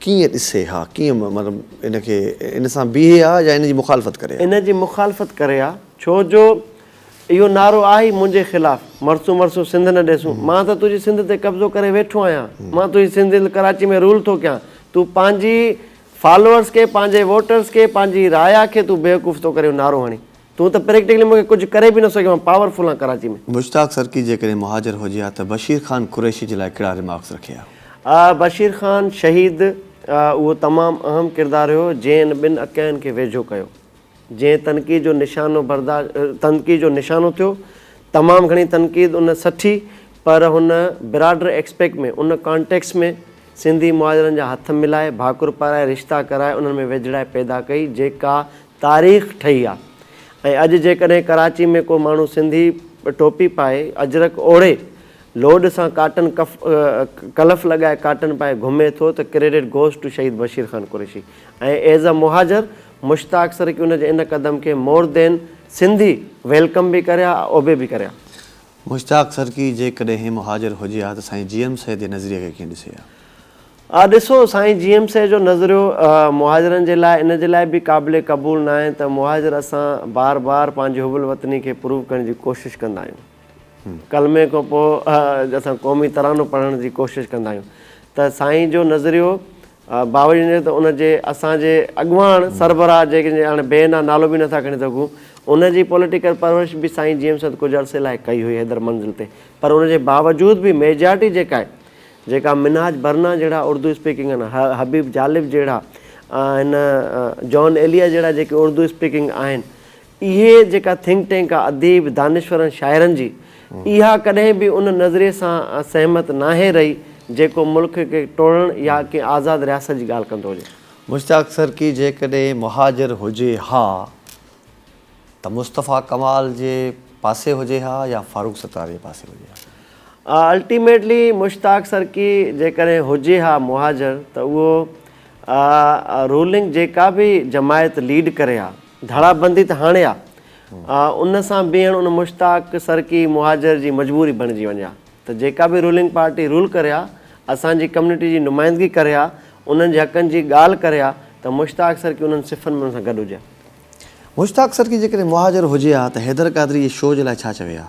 ڪيئن ڏسي ها ڪيئن مطلب ان کي ان سان بيهي ها يا ان جي مخالفت ڪري ها. ان جي مخالفت ڪري ها ڇو جو اهو نعرو آهي منهنجي خلاف مرسون مرسون سنڌ نه ڏيسون مان ته تنهنجي سنڌ تي قبضو ڪري ويٺو آهيان مان تنهنجي سنڌ هند ڪراچي ۾ رول ٿو ڪيان تون پنهنجي فالوئرس کي پنهنجي ووٽرس کي پنهنجي رايا کي تون بيوقوف ٿو ڪرين اهو نعرو هڻي تون ته پريڪٽيڪلي مونکي ڪجهه ڪري به نه سگهيو مان پاور فل آهيان ڪراچي ۾. مشتاق سرڪي جيڪڏهن مهاجر هجي ها ته بشير خان قريشي جي لاء ڪهڙا ريمارڪس رکي ها؟ بشير خان شهيد اهو تمام اهم ڪردار هيو جنهن ان ٻن اڪين کي ويجهو ڪيو. جنهن تنقيد جو نشانو برداشت تنقيد جو نشانو ٿيو. تمام گهڻي تنقيد ان سٺي پر هن براڊر ايڪسپيڪٽ ۾ ان ڪانٽيڪسٽ ۾ سنڌي مهاجرن جا هٿ ملائي، ڀاڪر پارائي، رشتا ڪرائي انهن ۾ ويجهڙائي پيدا ڪئي جيڪا تاريخ ٺهي آ ۽ اڄ جيڪڏهن ڪراچي ۾ ڪو ماڻهو سنڌي ٽوپي پائي، اجرڪ اوڙهي، لوڏ سان ڪاٽن ڪف ڪلف لڳائي ڪاٽن پائي گهمي ٿو ته credit goes to Shaheed Bashir Khan Qureshi ۽ as a muhajir Mushtaq سرڪي ان جي ان قدم کي مور دين سنڌي ويلڪم به ڪريا اوبي به ڪريا. مشتاق سرڪي جيڪڏهن هي مهاجر هجي ها ته سائين جي ايم سيد جي نظريي کي ڪيئن ڏسي ها؟ آ ڏسو سائين جي ايم سيد جو نظريو مهاجرن جي لاء ان جي لاء به قابل قبول ناهي ته مهاجر اسان بار بار پنهنجي حب الوطني کي پروف ڪرڻ جي ڪوشش ڪندا آهيون ڪلمي کان پوء اسان قومي ترانو پڙهڻ جي ڪوشش ڪندا آهيون ته سائين جو نظريو باوجود ان جي ته ان جي اسان جي اڳواڻ سربراهه جنهن جي هاڻي بي نا نالو به نٿا کڻي سگهون ان جي پوليٽيڪل پرورش به سائين جيئم سيد ڪجهه عرصي لاء ڪئي هئي حيدر منزل تي پر ان جي باوجود به ميجارٽي جيڪا آهي جيڪا منهاج برنا جهڙا اردو اسپيڪنگ آهن حبيب جالب جهڙا هن جان ايليا جهڙا جيڪي اردو اسپيڪنگ آهن اهي جيڪا ٿنڪ ٽينڪ آ اديب، دانشورن، شاعرن جي، اها ڪڏهن به ان نظريي سان سهمت ناهي رهي جيڪو ملڪ کي ٽوڙڻ يا ڪنهن آزاد رياست جي ڳالهه ڪندو هجي. مشتاق سرڪي جيڪڏهن مهاجر هجي ها ته مصطفيٰ ڪمال جي پاسي هجي ها يا فاروق ستار جي پاسي هجي ها. الٽيميٽلي مشتاق سرڪي جيڪڏهن هجي ها مهاجر ته اهو رولنگ جيڪا به جماعت ليڊ ڪري ها ڌڙا بندي ته هاڻي آ. ان سان بيهڻ ان مشتاق سرڪي مهاجر جي مجبوري بڻجي وڃي ها ته جيڪا به رولنگ پارٽي رول ڪري ها اسان جي ڪميونٽي جي نمائندگي ڪري ها انهن جي حقن جي ڳالهه ڪري ها ته مشتاق سرڪي انهن صفن ۾ ان سان گڏ هجي ها. مشتاق سرڪي جيڪڏهن مهاجر هجي ها ته حيدر قادري جي شو جي لاء ڇا چوي ها؟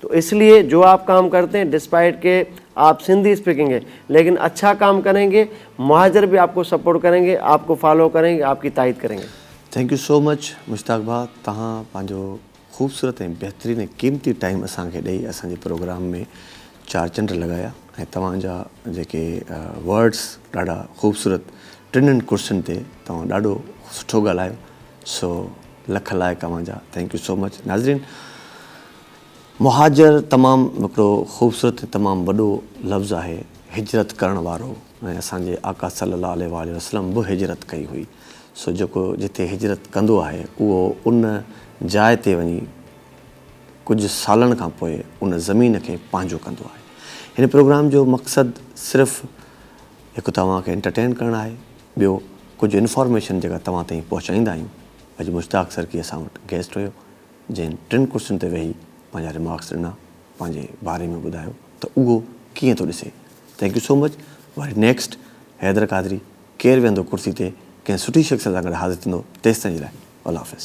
تو اس لئي جو آپ ڪام ڪرتي هين ڊسپائيٽ ڪي آپ سنڌي اسپيڪنگ هين ليڪن اڇا ڪام ڪرين گي مهاجر به آپ ڪو سپورٽ ڪرين گي آپ ڪو فالو ڪرين گي آپ ڪي تائيد ڪرين گي. Thank you so much Mushtaq ڀاء توهان پنهنجو خوبصورت ۽ بهترين ۽ قيمتي ٽائيم اسان کي ڏئي اسان جي پروگرام ۾ چار چنڊ لڳايا ۽ توهان جا جيڪي ورڊس ڏاڍا خوبصورت ٽنن ڪرسين تي توهان ڏاڍو سٺو ڳالهايو سو لک لائق اوهان جا ٿينڪ يو سو مچ ناظرين مهاجر تمام هڪڙو خوبصورت ۽ تمام وڏو لفظ آهي، هجرت ڪرڻ وارو ۽ اسان جي آقا صلي الله عليه واٰله وسلم به هجرت ڪئي هئي، سو جيڪو جتي هجرت ڪندو آهي اهو ان جاء تي وڃي ڪجهه سالن کان پوء ان زمين کي پنهنجو ڪندو آهي. هن پروگرام جو مقصد صرف هڪ توهان کي انٽرٽين ڪرڻ آهي، ٻيو ڪجهه انفارميشن جيڪا توهان تائين پهچائيندا آهيون. اڄ مشتاق سرڪي اسان وٽ گيسٽ هيو. جنهن ٽن ڪرسين تي ويهي پنهنجا ريمارڪس ڏنا، پنهنجي باري ۾ ٻڌايو ته اهو ڪيئن ٿو ڏسي. Thank you so much. وري نيڪسٽ حيدر قادري. ڪير ويهندو ڪرسي تي ڪنهن سٺي شخصيت سان گڏ حاضر ٿيندو تيستائين جي لاء الله حافظ.